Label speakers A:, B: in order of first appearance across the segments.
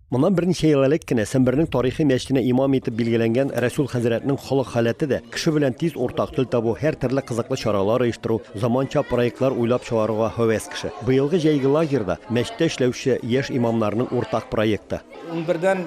A: Моннан берничә ел элек кенә Сембернең тарихи мәчетенә имам итеп билгеләнгән Рәсүл хәзрәтнең холык халәте дә, кеше белән тиз уртак тел табу, һәртөрле кызыклы чаралар оештыру, заманча проектлар уйлап чыгаруга һәвәс кеше. Быелгы җәйге лагерь да, мәчеттә эшләүче яшь имамнарның уртак проекты. Унбердән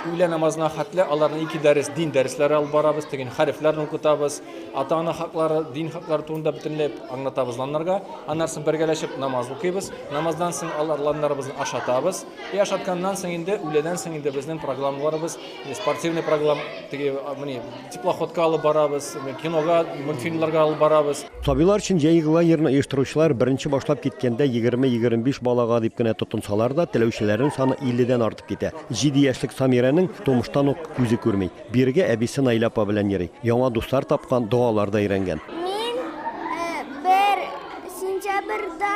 B: үлән намазына хәтле аларны ике дәрес, дин дәресләре алып барабыз, теген хәрефләрне укытабыз, ата-ана хаклары, дин хаклары турында бөтенләй аңлатабыз ланнарга. Аннары соң бергәләшеп намаз укыйбыз. Намаздан соң алар ланнарыбызны ашатабыз. Кояш атканнан соң инде, үләдән соң инде безнең программаларыбыз, спортивный программ, теге, мени, теплоходка алып барабыз, кинога, мультфильмларга алып барабыз. Сабыйлар өчен җәйге
A: лагерьны оештыручылар беренче башлап киткәндә 20-25 балага дип кенә тотынсалар да, теләүчеләрнең саны 50 дән артып китә. Җиде яшьлек Самирәнең тумыштан ук күзе күрми. Бирегә әбисе Наилә апа белән йөри. Яңа дуслар тапкан, догалар да өйрәнгән. Мин
C: бер сентябрьдә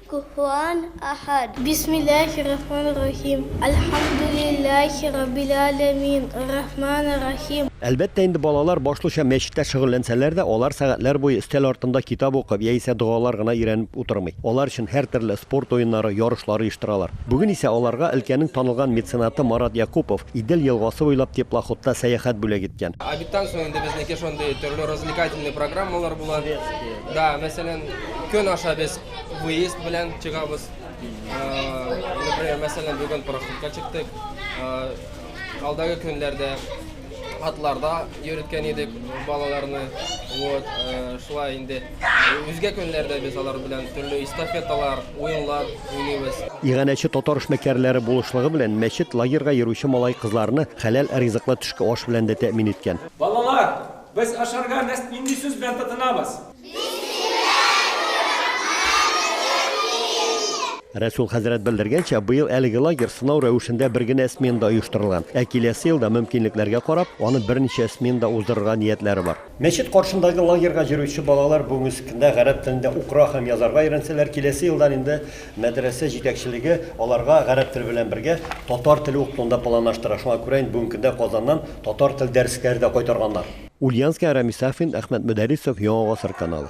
C: Куһуан Ахад. Бисмиллахи рахмани рахим. Әлхәмдүлиллахи раббил әләмин, ар-рахмани рахим. Әлбәттә инде,
A: балалар башлыча мәчеттә шөгыльләнсәләр дә, алар сәгатьләр буе өстәл артында китап укып яисә догалар гына өйрәнеп утырмый. Алар өчен һәртөрле спорт уеннары, ярышлар оештыралар. Бүген исә аларга өлкәнең танылган меценаты Марат Якупов Идел елгасы буйлап теплоходта сәяхәт бүләк иткән. Обедтан соң инде безнеке
D: шундый төрле развлекательный программалар була. Да, мәсәлән, көн аша без Выезд белән чыгабыз. Например, мәсәлән, бүген пароходка чыктык. Алдагы көннәрдә атларда йөрткән идек балаларны. Вот, шулай инде. Үзгә көннәрдә без алар белән төрле эстафеталар, уенлар уйныйбыз. Иганәче татар
A: эшмәкәрләре булышлыгы белән мәчет лагерьга йөрүче малай-кызларны хәләл ризыклы төшке аш белән дә тәэмин иткән. Балалар,
B: без ашарга нинди сүз белән тотынабыз?
A: Рәсүл хәзрәт белдергәнчә, быел әлеге лагерь сынау рәвешендә бер генә сменада оештырылган. Ә киләсе елда, мөмкинлекләргә карап, аны берничә сменада уздырырга ниятләре бар. Мәчет каршындагы лагерьга йөрүче балалар бүгенге кендә гарәп телендә укыра һәм язарга өйрәнсәләр, киләсе елдан инде мәдрәсә җитәкчелеге аларга гарәп теле белән бергә татар теле укытуны да планлаштыра. Шуңа күрә инде бүгенге кендә Казаннан татар тел дәресләре дә кайтарганнар. Ульянская Рамис Сафин Әхмәт Мөдәрисов Яңа гасыр каналы.